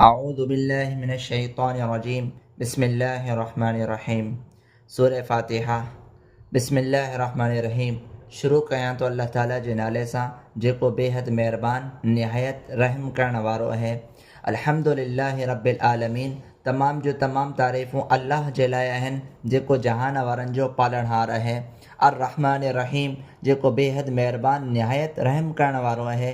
اعوذ بالله من الشيطان الرجيم بسم الله الرحمن الرحيم سورة فاتحة بسم الله الرحمن الرحيم شروع ڪيان ٿو الله تعالي جي نالي سان جيڪو بيحد مهربان نهايت رحم ڪرڻ وارو اهي الحمد لله رب العالمين تمام جو تمام تعريفون الله جي لاء آهن جيڪو جهان وارن جو پالڻهار اهي الرحمن الرحيم جيڪو بيحد مهربان نهايت رحم ڪرڻ وارو اهي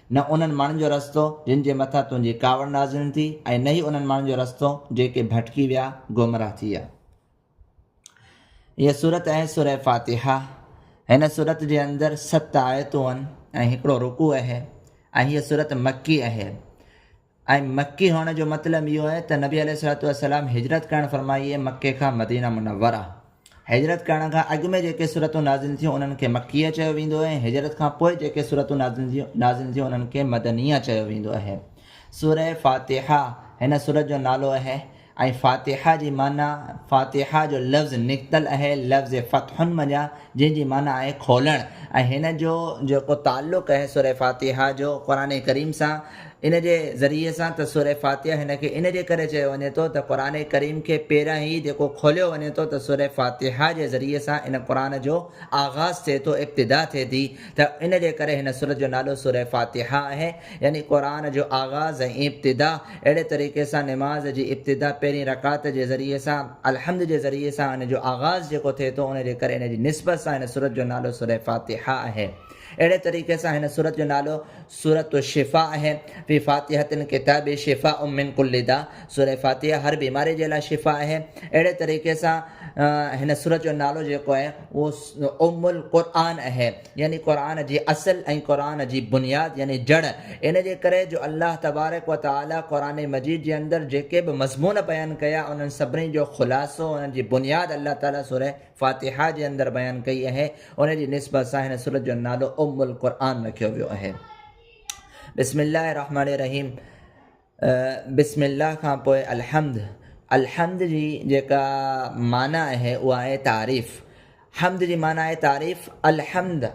نه انهن ماڻهن جو رستو، جن جي مٿان تنهنجي ڪاوڙ نازل ٿي ۽ نه ئي انهن ماڻهن جو رستو، جيڪي ڀٽڪي ويا، گمراهه ٿي ويا. هيء سورت آهي سوره فاتحه. هن سورت جي اندر ست آيتون آهن ۽ هڪڙو رڪوع آهي ۽ هيء سورت مڪي آهي. ۽ مڪي هئڻ جو مطلب اهو آهي ته نبي عليه الصلاة والسلام هجرت ڪرڻ فرمائي هئي مڪي کان مدينه منوره. هجرت ڪرڻ کان اڳ ۾ جيڪي سورتون نازل ٿيون انهن کي مڪيه چيو ويندو آهي ۽ هجرت کان پوء جيڪي سورتون نازل ٿيون نازل ٿيون انهن کي مدنيه چيو ويندو آهي. سوره فاتحه هن سورت جو نالو آهي. ۽ فاتحه جي معنيٰ، فاتحه جو لفظ نڪتل اهي لفظ فتح منجهان جنهن جي معنيٰ آهي کولڻ ۽ هن جو جيڪو تعلق اهي سوره فاتحه جو قرآن ڪريم سان ان جي ذريعي سان ته سوره فاتحه هن کي ان جي ڪري چيو وڃي ٿو ته قرآن ڪريم کي پهريان ئي جيڪو کوليو وڃي ٿو ته سوره فاتحه جي ذريعي سان ان قرآن جو آغاز ٿئي ٿو ابتدا ٿئي ٿي ته ان جي ڪري هن سورت جو نالو سوره فاتحه اهي. يعني قرآن جو آغاز ۽ ابتدا اهڙي طريقي سان نماز جي ابتدا پهرين رڪعت جي ذريعي سان الحمد جي ذريعي سان ان جو آغاز جيڪو ٿئي ٿو ان جي ڪري ان جي نسبت سان هن سورت جو نالو سوره فاتحه آهي اهڙي طريقي سان هن سورت جو نالو سورت الشفاء آهي في فاتحه الڪتاب شفاء من كل داء سوره فاتحه هر بيماري جي لاء شفاء آهي اهڙي طريقي سان هن سورت جو نالو جيڪو آهي اهو ام القرآن آهي يعني قرآن جي اصل ۽ قرآن جي بنياد يعني جڙ ان جي ڪري جو الله تبارڪ و تعالي قرآن مجيد جي اندر جيڪي به مضمون بيان ڪيا انهن سڀني جو خلاصو انهن جي بنياد الله تعالي سورة فاتحه جي اندر بيان ڪئي اهي ان جي نسبت سان هن سورت جو نالو ام القرآن رکيو ويو اهي بسم الله الرحمن الرحيم بسم الله کان پوء الحمد، الحمد جي جيڪا معنيٰ آهي اها آهي تعريف، حمد جي معنيٰ آهي تعريف، الحمد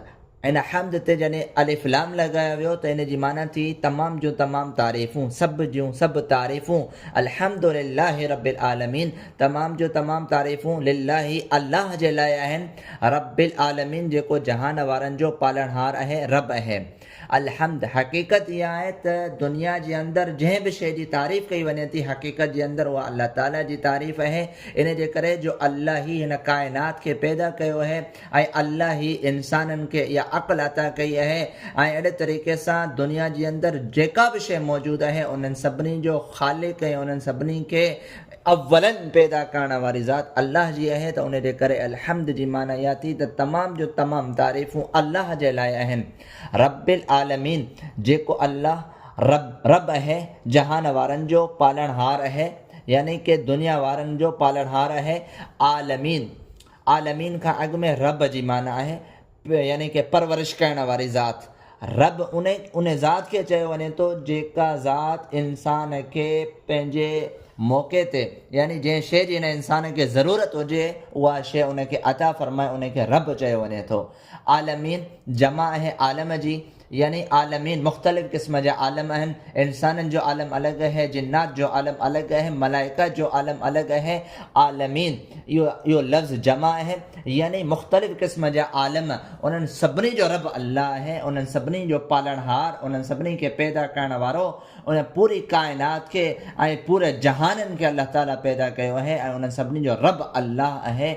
هن حمد تي جڏهن الف لام لڳايو ويو ته ان جي معنيٰ ٿي تمام جون تمام تعريفون، سڀ جون سڀ تعريفون، الحمد لله رب العالمين تمام جون تمام تعريفون لله الله جي لاء آهن، رب العالمين جيڪو جهان وارن جو پالڻهار آهي، رب آهي. الحمد، حقيقت اها آهي ته دنيا جي اندر جنهن به شيء جي تعريف ڪئي وڃي ٿي حقيقت جي اندر اها الله تعالي جي تعريف اهي ان جي ڪري جو الله ئي هن ڪائنات کي پيدا ڪيو اهي ۽ الله ئي انسانن کي اها عقل عطا ڪئي اهي ۽ اهڙي طريقي سان دنيا جي اندر جيڪا به شيء موجود اهي انهن سڀني جو خالق ۽ انهن سڀني کي اولا پيدا ڪرڻ واري ذات الله جي اهي ته ان جي ڪري الحمد جي معنيٰ اها ٿي ته تمام جو تمام تعريفون الله جي لاء آهن رب العالمين جيڪو الله رب رب اهي جهان وارن جو پالڻهار اهي يعني ڪي دنيا وارن جو پالڻهار اهي عالمين عالمين کان اڳ ۾ رب جي معنيٰ آهي يعني ڪي پرورش ڪرڻ واري ذات رب ان ذات کي چيو وڃي ٿو جيڪا ذات انسان کي پنهنجي موقعي تي يعني جنهن شيء جي هن انسان کي ضرورت هجي اها شيء ان کي عطا فرمائي ان کي رب چيو وڃي ٿو عالمين جمع آهي عالم جي يعني عالمين مختلف قسم جا عالم آهن، انسانن جو عالم الڳ اهي، جنات جو عالم الڳ اهي، ملائڪه جو عالم الڳ اهي، عالمين اهو لفظ جمع اهي، يعني مختلف قسم جا عالم، انهن سڀني جو رب الله اهي، انهن سڀني جو پالڻهار، انهن سڀني کي پيدا ڪرڻ وارو، ان پوري ڪائنات کي ۽ پوري جهانن کي الله تعالي پيدا ڪيو اهي ۽ انهن سڀني جو رب الله اهي،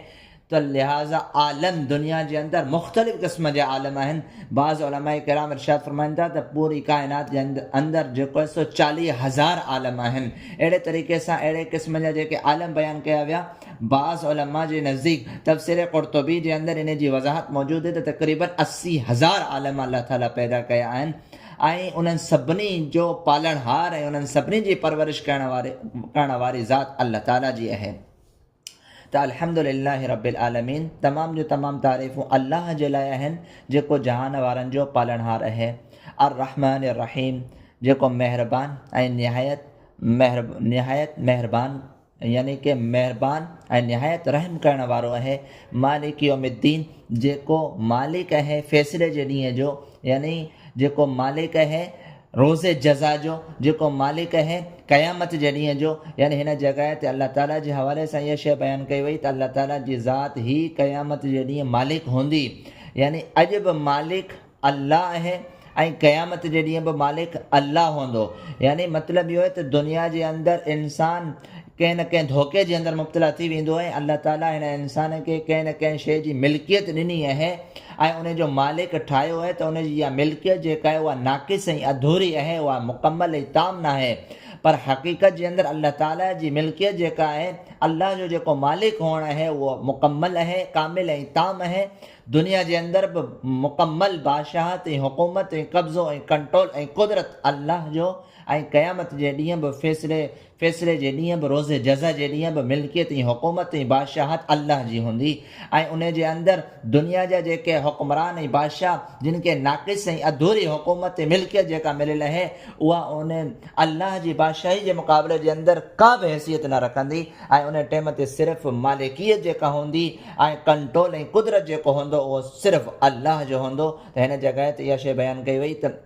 ته لهٰذا عالم دنيا جي اندر مختلف قسم جا عالم آهن. بعض علماء ڪرام ارشاد فرمائن ٿا ته پوري ڪائنات جي اندر جيڪو آهي سو چاليهه هزار عالم آهن. اهڙي طريقي سان اهڙي قسم جا جيڪي عالم بيان ڪيا ويا، بعض علماء جي نزديڪ تفسير قرطبي جي اندر انهي جي وضاحت موجود آهي ته تقريبن اسي هزار عالم الله تعاليٰ پيدا ڪيا آهن ۽ انهن سڀني جو پالڻهار ۽ انهن سڀني جي پرورش ڪرڻ واري ذات الله تعاليٰ جي آهي. ته الحمد لله رب العالمين تمام جون تمام تعريفون الله جي لاء آهن جيڪو جهان وارن جو پالڻهار اهي الرحمٰن الرحيم جيڪو مهربان ۽ نهايت مهر نهايت مهربان يعني ڪي مهربان ۽ نهايت رحم ڪرڻ وارو اهي مالڪ يوم الدين جيڪو مالڪ اهي فيصلي جي ڏينهن جو يعني جيڪو مالڪ اهي روز جزا جو، جيڪو مالڪ اهي، قيامت جي ڏينهن جو، يعني هن جڳهه تي الله تعاليٰ جي حوالي سان اها شيء بيان ڪئي وئي ته الله تعاليٰ جي ذات هي قيامت جي ڏينهن مالڪ هوندي، يعني اڄ به مالڪ الله اهي ۽ قيامت جي ڏينهن به مالڪ الله هوندو، يعني مطلب اهو اهي ته دنيا جي اندر انسان ڪنهن نه ڪنهن ڌوڪي جي اندر مبتلا ٿي ويندو ۽ الله تعاليٰ هن انسان کي ڪنهن نه ڪنهن شيء جي ملڪيت ڏني اهي ۽ ان جو مالڪ ٺاهيو اهي ته ان جي اها ملڪيت جيڪا اهي اها ناقص ۽ اڌوري اهي اها مڪمل ۽ تام ناهي پر حقيقت جي اندر الله تعاليٰ جي ملڪيت جيڪا اهي الله جو جيڪو مالڪ هئڻ اهي اهو مڪمل اهي ڪامل ۽ تام اهي دنيا جي اندر به مڪمل بادشاهت ۽ حڪومت ۽ قبضو ۽ ڪنٽرول ۽ قدرت الله جو ۽ قيامت جي ڏينهن به فيصلي فيصلي جي ڏينهن به روز جزا جي ڏينهن به ملڪيت ۽ حڪومت ۽ بادشاهت الله جي هوندي ۽ ان جي اندر دنيا جا جيڪي حڪمران ۽ بادشاهه جن کي ناقص ۽ اڌوري حڪومت ۽ ملڪيت جيڪا مليل اهي اها ان الله جي بادشاهي جي مقابلي جي اندر ڪا به حيثيت نه رکندي ۽ ان ٽيم تي صرف مالڪيت جيڪا هوندي ۽ ڪنٽرول ۽ قدرت جيڪو هوندو اهو صرف الله جو هوندو ته هن جڳهه تي اها شيء بيان ڪئي وئي ته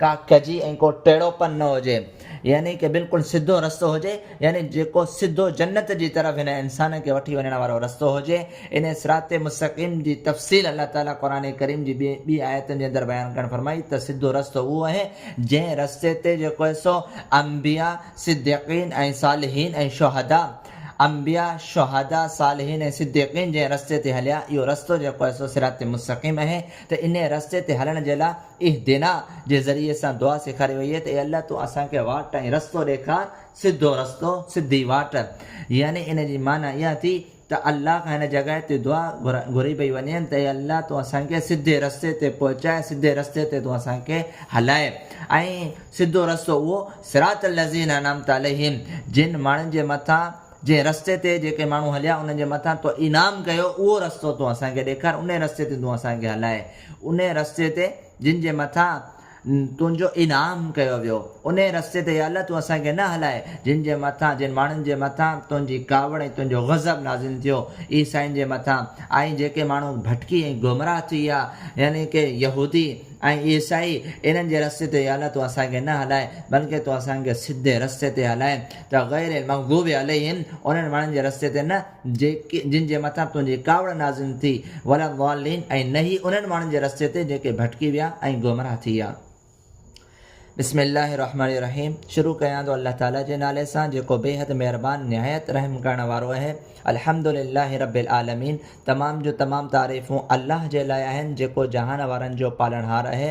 ڪا ڪجي ۽ ڪو ٽيڙو پن نه هجي يعني ڪه بلڪل سڌو رستو هجي يعني جيڪو سڌو جنت جي طرف هن انسان کي وٺي وڃڻ وارو رستو هجي انهي صراط مستقيم جي تفصيل الله تعالي قرآن ڪريم جي ٻي ٻي آيتن جي اندر بيان ڪرڻ فرمائي ته سڌو رستو اهو اهي جنهن رستي تي جيڪو اهي سو انبيا صديقين ۽ صالحين ۽ شهدا انبيا شهدا صالحين ۽ صديقين جنهن رستي تي هليا اهو رستو جيڪو اهي سو صراط مستقيم اهي ته انهي رستي تي هلڻ جي لاء اهدنا جي ذريعي سان دعا سيکاري وئي آهي ته اي الله تون اسان کي واٽ ۽ رستو ڏيکار، سڌو رستو، سڌي واٽ. يعني ان جي معنيٰ اها ٿي ته الله کان هن جڳهه تي دعا گهري پئي وڃي ته اي الله تون اسان کي سڌي رستي تي پهچاء، سڌي رستي تي تون اسان کي هلاء ۽ سڌو رستو اهو صراط الذين انعمت عليهم جن ماڻهن جي مٿان جنهن رستي تي جيڪي ماڻهو هليا انهن جي مٿان تو انعام ڪيو اهو رستو تون اسان کي ڏيکار انهي رستي تي تون اسان کي هلاء. انهيء رستي تي جن جي مٿان تنهنجو انعام ڪيو ويو، انهيء رستي تي يا الله تون اسان کي نه هلائي، جن جي مٿان، جن ماڻهن جي مٿان تنهنجي ڪاوڙ ۽ تنهنجو غضب نازل ٿيو، عيسائين جي مٿان، ۽ جيڪي ماڻهو ڀٽڪي ۽ گمراهه ٿي ويا، يعني ڪي يهودي ۽ عيسائي، انهن جي رستي تي يا الله تون اسان کي نه هلائي، بلڪه تون اسان کي سڌي رستي تي هلائي، ته غير المغضوب عليهم، انهن ماڻهن جي رستي تي نه. جن جي مٿان تنهنجي ڪاوڙ نازل ٿي، ولا الضالين ۽ نه ئي انهن ماڻهن جي رستي تي جيڪي ڀٽڪي ويا ۽ گمراهه ٿي ويا. بسم الله الرحمن الرحيم شروع ڪيان ٿو الله تعاليٰ جي نالي سان جيڪو بيحد مهربان نهايت رحم ڪرڻ وارو اهي. الحمد لله رب العالمين تمام جون تمام تعريفون الله جي لاء آهن جيڪو جهان وارن جو پالڻهار اهي.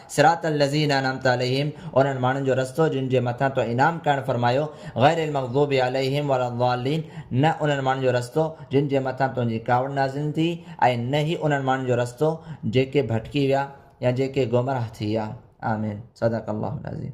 صراط الذين انعمت عليهم انهن ماڻهن جو رستو جن جي مٿان تو انعام ڪرڻ فرمايو، غير المغضوب عليهم ولا الضالين نه انهن ماڻهن جو رستو جن جي مٿان تنهنجي ڪاوڙ نازل ٿي ۽ نه هي انهن ماڻهن جو رستو جيڪي ڀٽڪي ويا يا جيڪي گمراهه ٿي ويا. آمين. صدق الله العظيم.